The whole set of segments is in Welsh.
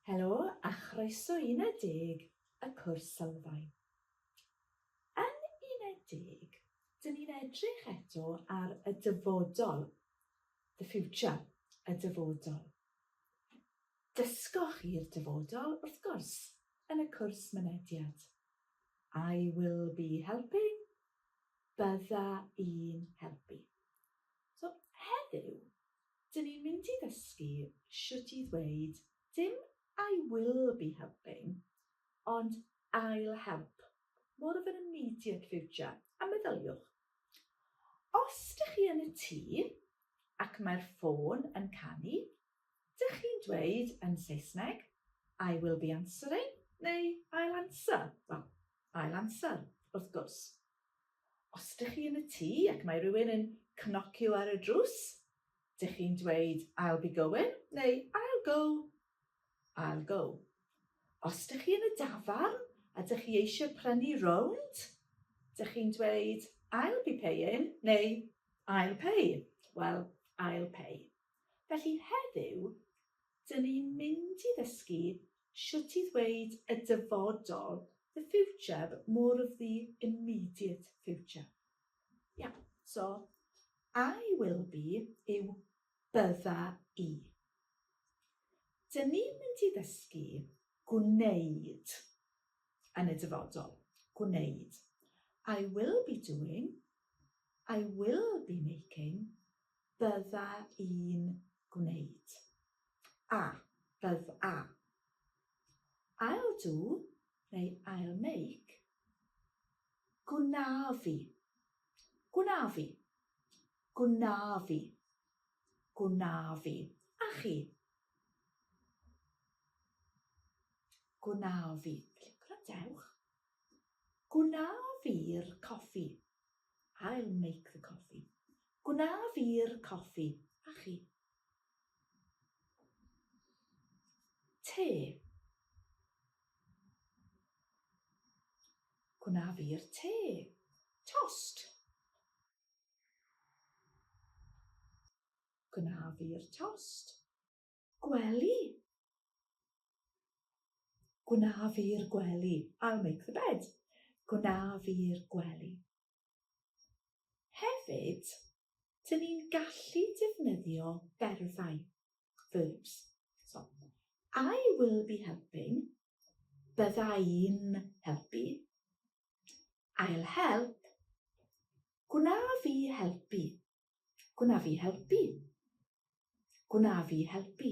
Helo a chroeso i Uned Deg, y cwrs sylfaen. Yn Uned Deg, dyn ni'n edrych eto ar y dyfodol, the future, y dyfodol. Dysgoch i'r dyfodol, wrth gwrs, yn y cwrs mynediad. I will be helping, bydda i'n helpu. So, heddiw, Dyn ni'n mynd i ddysgu shwt i ddweud dim I will be helping ond I'll help, more of an immediate future, a meddyliwch, os dych chi yn y tŷ ac mae'r ffôn yn canu, dych chi'n dweud yn Saesneg I will be answering neu I'll answer, wel, I'll answer, wrth gwrs. Os dych chi yn y tŷ ac mae rhywun yn cnocio ar y drws, dych chi'n dweud I'll be going neu I'll go. I'll go. Os dych chi yn y dafarn a dych chi eisiau prynu rownd, dych chi'n dweud I'll be paying neu I'll pay. Wel, I'll pay. Felly heddiw, dyn ni'n mynd i ddysgu Shwt i ddweud y dyfodol, the future, but more of the immediate future. Yeah, so I will be yw bydda i. Dyn ni'n mynd i ddysgu gwneud yn y dyfodol. Gwneud. I will be doing, I will be making, bydda i'n gwneud. A, bydd a. I'll do neu I'll make. Gwna fi. Gwna fi. Gwna fi. Gwna fi. A chi? Gwna fi. Gwrandewch. Gwna fi'r coffi. I'll make the coffee. Gwna fi'r coffi, a chi? Te. Gwna fi'r te. Tost. Gwna fi'r tost. Gwely. Gwna fi'r gwely. I'll make the bed. Gwna fi'r gwely. Hefyd, dyn ni'n gallu defnyddio berfau, verbs. So, I will be helping, bydda i'n helpu. I'll help, gwna fi helpu, gwna fi helpu. Gwna fi helpu,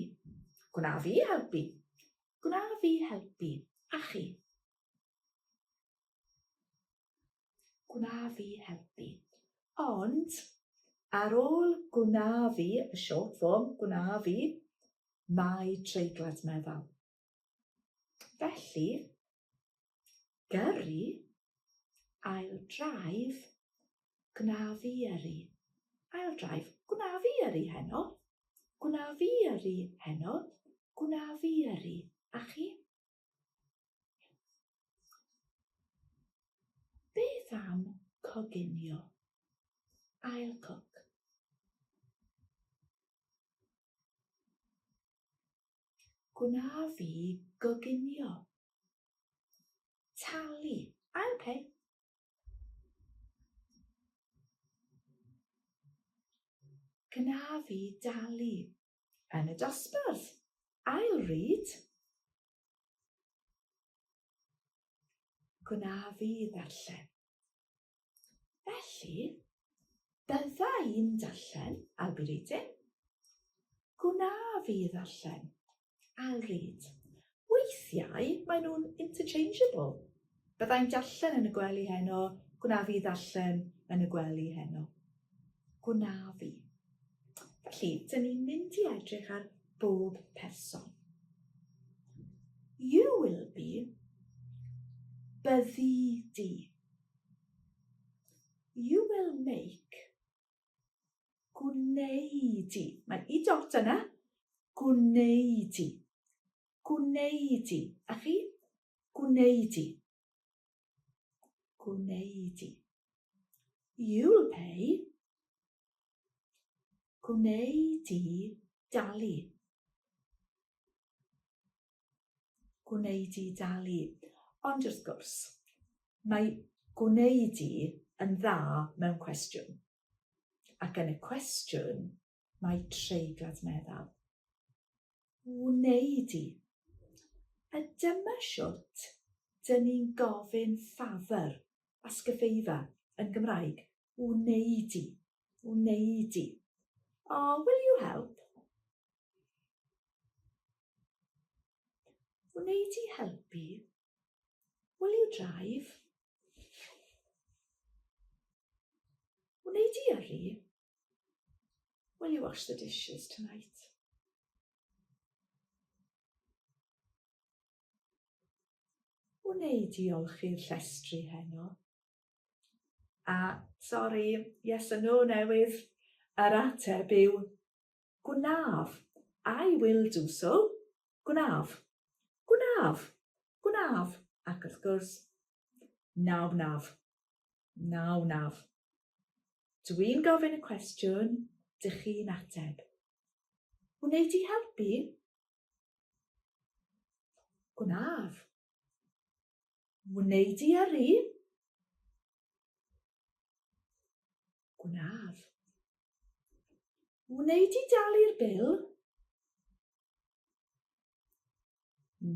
gwna fi helpu, gwna fi helpu, a chi. gwna fi helpu. Ond, ar ôl gwna fi, y short form, gwna fi, mae treiglad meddal. Felly, gyrru, I'll drive, gwna fi yrru. I'll drive, gwna fi yrru heno. Gwna fi yrru heno. Gwna fi yrru. A chi? Beth am coginio? I'll cook. Gwna fi goginio. Talu. I'll pay. Gwna fi dalu. yn y dosbarth. I'll read. Gwna fi ddarllen. Felly, bydda i'n darllen, I'll be reading. Gwna fi ddarllen, I'll read. Weithiau maen nhw'n interchangeable. Byddai'n darllen yn y gwely heno, gwna fi ddarllen yn y gwely heno. Gwna fi. Felly, dyn ni'n mynd i edrych ar bob person. You will be, byddi di. You will make, Gwneud i. Mae i dot yna. Gwneud i. Gwneud i. A chi? Gwneud i. Gwneud i. You'll pay. Gwneud i dalu. gwneud i dalu. Ond wrth gwrs, mae gwneud i yn dda mewn cwestiwn. Ac yn y cwestiwn, mae treiglad meddal. Wneud i. A dyma siwt dyn ni'n gofyn ffafr a sgyfeifa yn Gymraeg. Wneud i. Wneud i. Oh, will you help? Wneud i helpu. Will you drive? Wneud i yrru. Will you wash the dishes tonight? Wneud i olchi'r llestri heno. A, sori, yes a no newydd, yr ateb yw Gwnaf. I will do so. Gwnaf. Gwnaf. Gwnaf. Ac wrth gwrs, na wnaf. Na wnaf. Dw i'n gofyn y cwestiwn, dych chi'n ateb. Wneud i helpu? Gwnaf. Wneud i yrru? Gwnaf. Wneud i dalu'r bil?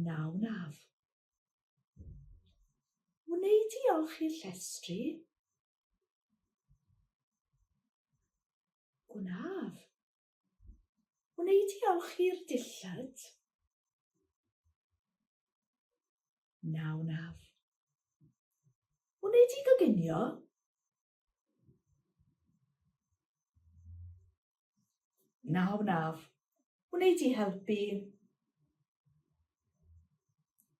Na wnaf. Wneud i olchi'r llestri? Gwnaf. Wneud i olchi'r dillad? Na wnaf. Wnei di goginio? Na wnaf. Wnei di helpu?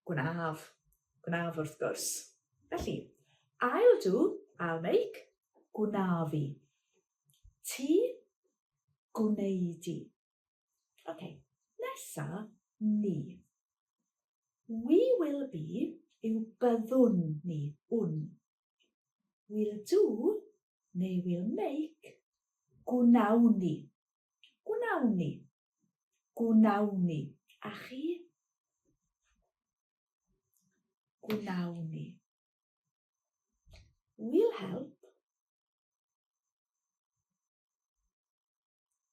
Gwnaf. Gwnaf wrth gwrs. Felly, I'll do, I'll make, gwnaf i. Ti, gwneud i. Okay, nesa ni. We will be yw byddwn ni, wn. We'll do neu we'll make, gwnawn ni. Gwnawn ni. Gwnawn ni. A chi? Gwnawn ni. We'll help.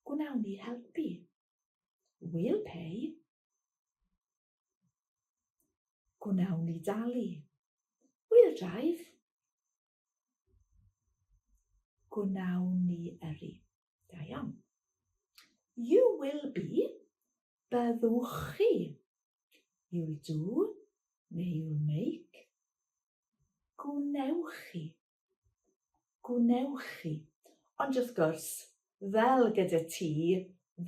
gwnawn ni helpu. We'll pay. Gwnawn ni dalu. We'll drive. Gwnawn ni yrru. Da iawn. You will be. Byddwch chi. You'll do. Neu you'll make. Gwnewch chi. gwnewch chi. Ond wrth gwrs, fel gyda ti,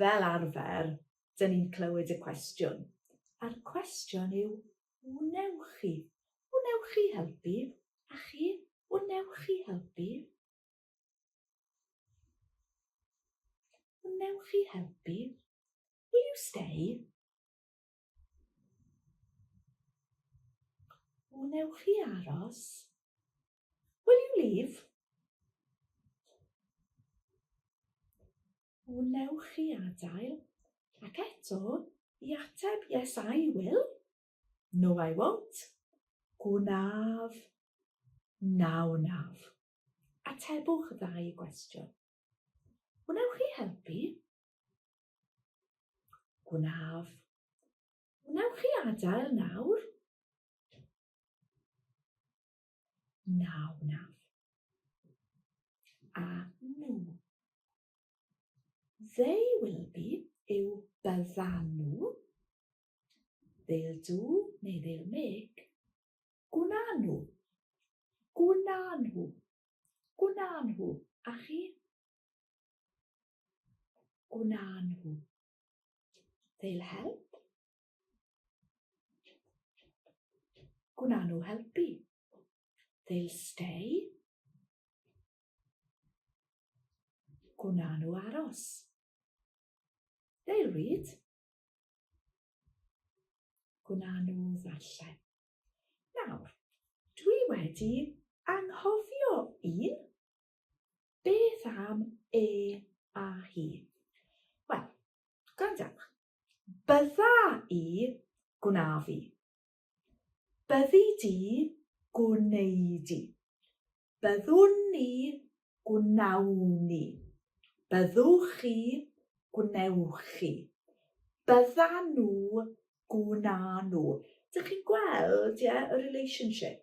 fel arfer, dyn ni'n clywed y cwestiwn. A'r cwestiwn yw, wnewch chi? Wnewch chi helpu? A chi, wnewch chi helpu? Wnewch chi helpu? Will you stay? Wnewch chi aros? Will you leave? Wnewch chi adael? Ac eto, i ateb, yes I will. No I won't. Gwnaf. Na wnaf. Atebwch y ddau gwestiwn. Wnewch chi helpu? Gwnaf. Wnewch chi adael nawr? Na, wnaf. A nhw. They will be yw byddan nhw. They'll do neu they'll make. Gwna nhw. Gwna nhw. Gwna nhw. A chi? O na nhw. They'll help. Gwna nhw helpu. They'll stay. Gwna nhw aros. They'll read. Gwna nhw ddarllen. Nawr, dwi wedi anghofio un. Beth am e a hi? Wel, gwrandewch. Bydda i, gwna fi. Byddi di, gwneud i. Byddwn ni, gwnawn ni. Byddwch chi, gwnewch chi. Bydda nhw, gwna nhw. Dych chi'n gweld, ie, yeah, y relationship?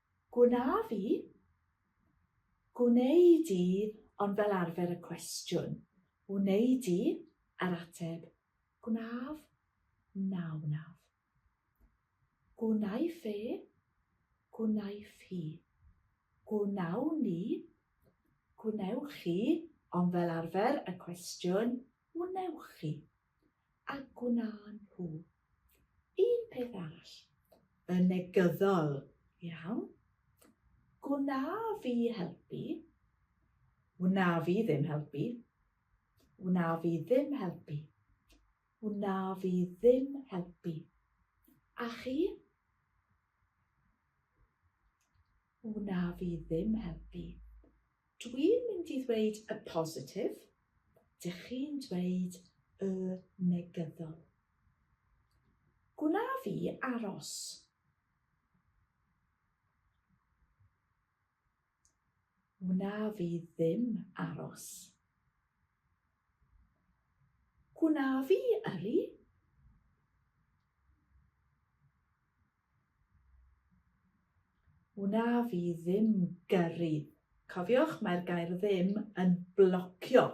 Gwnaf i? Gwnei di ond fel arfer y cwestiwn, wnei di? a'r ateb, gwnaf, na wnaf. Gwnaiff e? Gwnaiff hi? Gwnawn ni? Gwnewch chi? ond fel arfer y cwestiwn, wnewch chi? a gwnaen nhw un peth arall yn negyddol iawn. Gwna fi helpu. Wna fi ddim helpu. Wna fi ddim helpu. Wna fi ddim helpu. A chi? Wna fi ddim helpu. Dwi'n mynd i ddweud y positif, dych chi'n dweud y negyddol. Gwna fi aros. Wna fi ddim aros. Gwna fi yrru? Wna fi ddim gyrru. Cofiwch, mae'r gair ddim yn blocio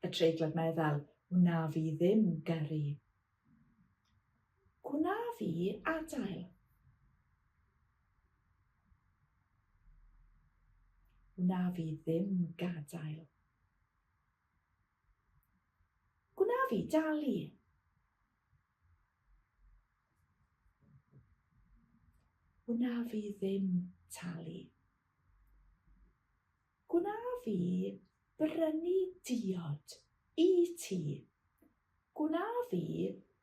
y treiglad meddal. Wna fi ddim gyrru. Gwna fi adael. Wna fi ddim gadael. Gwna fi dalu. Gwna fi ddim talu. Gwna fi brynu diod i ti. Gwna fi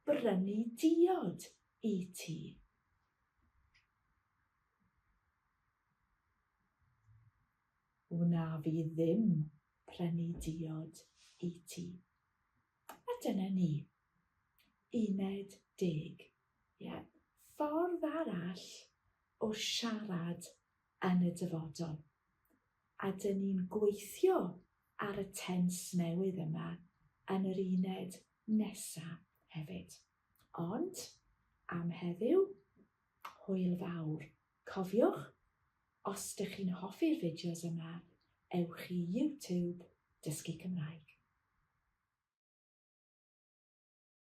brynu diod i ti. Wna fi ddim prynu diod i ti. A dyna ni. Uned deg. Ie, ffordd arall o siarad yn y dyfodol. A dyn ni'n gweithio ar y tens newydd yma yn yr uned nesa hefyd. Ond, am heddiw, hwyl fawr. Cofiwch, Os dych chi'n hoffi'r fideos yma, ewch i YouTube Dysgu Cymraeg.